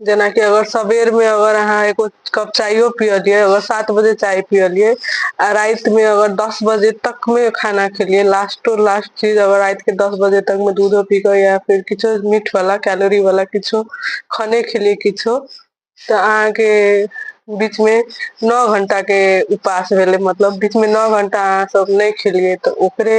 जेनाकि अगर सबेर में अगर अहाँ एगो कप चायो पियलियै अगर सात बजे चाय पियलियै आ राति मे अगर दस बजे तक मे खाना खेलियै लास्टो लास्ट चीज अगर राति के दस बजे तक मे दूधो पी के या फेर किछो मीठ वाला कैलोरी वाला किछो खाने खेलियै किछो तऽ अहाँके बीच मे नओ घंटा के उपास भेलै मतलब बीच मे नओ घंटा अहाँ सब नहि खेलियै तऽ ओकरे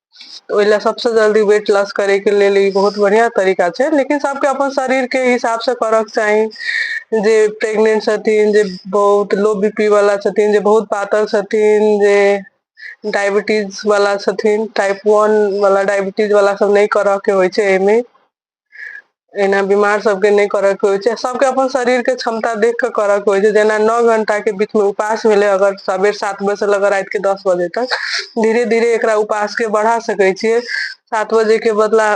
ओहि लए सबसँ जल्दी वेट लॉस करे के लेल ई बहुत बढ़िया तरीका छै लेकिन सबके अपन शरीर के हिसाब से करऽ के चाही जे प्रेगनेंट छथिन जे बहुत लो बी पी वाला छथिन जे बहुत पातर छथिन जे डायबिटीज वाला छथिन टाइप वन वाला डायबिटीज वाला सब नहि करऽ के होइ छै एहिमे एना बीमार सबके नहि करऽ के होइ छै सबके अपन शरीर के क्षमता देख के करऽ के होइ छै जेना नौ घंटा के बीच में उपास भेलै अगर सबेर सात बजे से लऽ राति के दस बजे तक धीरे धीरे एकरा उपास के बढ़ा सकै छियै सात बजे के बदला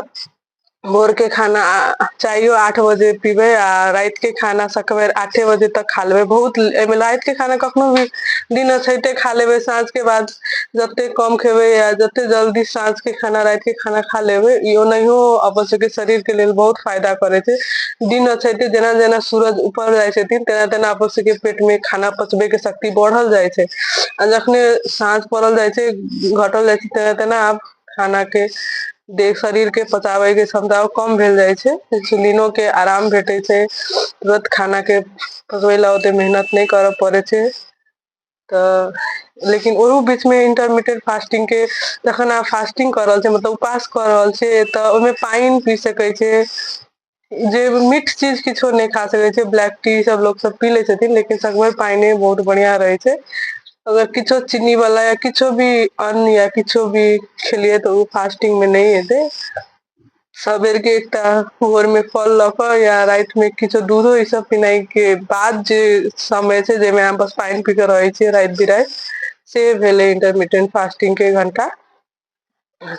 भोर के खाना आ चायो आठ बजे पीबै आ राति के खाना सकबेर आठे बजे तक खा लेबै बहुत एहिमे राति के खाना कखनो भी दिन अछैते खा लेबै साँझ के बाद जते कम खेबै या जते जल्दी साँझ के खाना रात के खाना खा लेबै ई ओनाहियो अपन सबके शरीर के लेल बहुत फायदा करे छै दिन अछैते जेना जेना सूरज ऊपर जाइ छथिन तेना तेना अपन सबके पेट में खाना पचबे के शक्ति बढ़ल जाइ छै आ जखने साँझ पड़ल जाइ छै घटल जाइ छै तेना तेना आब खाना के देह शरीर के पचाबे के क्षमता कम भेल जाइ छै इंसुलिनो के आराम भेटे छै तुरत खाना के पकबै लए ओते मेहनत नहि करऽ पड़ै छै तऽ लेकिन ओहू बीच मे इंटरमीेट फास्टिंग के जखन अहाँ फास्टिंग कऽ रहल छी मतलब उपास कऽ रहल छी तऽ ओहिमे पानि पी सकैत छी जे मिक्स चीज किछो नहि खा सकै छै ब्लैक टी सब लोक सब पी लै छथिन लेकिन सगमे पाइने बहुत बढ़िया रहै छै अगर किछो चीनी वाला या किछो भी अन्न या किछो भी खेलियै तऽ ओ फास्टिंग मे नहि हेतै सबेर के एकटा भोर में फल लऽ कऽ या रात में किछो दूधो ई सब पिनाइ के बाद जे समय छै जाहिमे अहाँ बस पानि पी कऽ रहै छियै राति बिराति से भेलै इंटरमीडियंट फास्टिंग के घंटा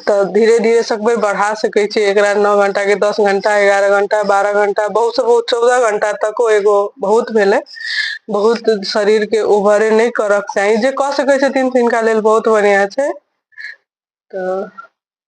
तऽ धीरे धीरे सकबै बढ़ा सकै छियै एकरा नओ घंटा के दस घंटा एगारह घंटा बारह घंटा बहुत से बहुत चौदह घंटा तको एगो बहुत भेलै बहुत शरीर के ओभरे नहि करक चाही जे कऽ सकै छथिन तिनका लेल बहुत बढ़िया छै तऽ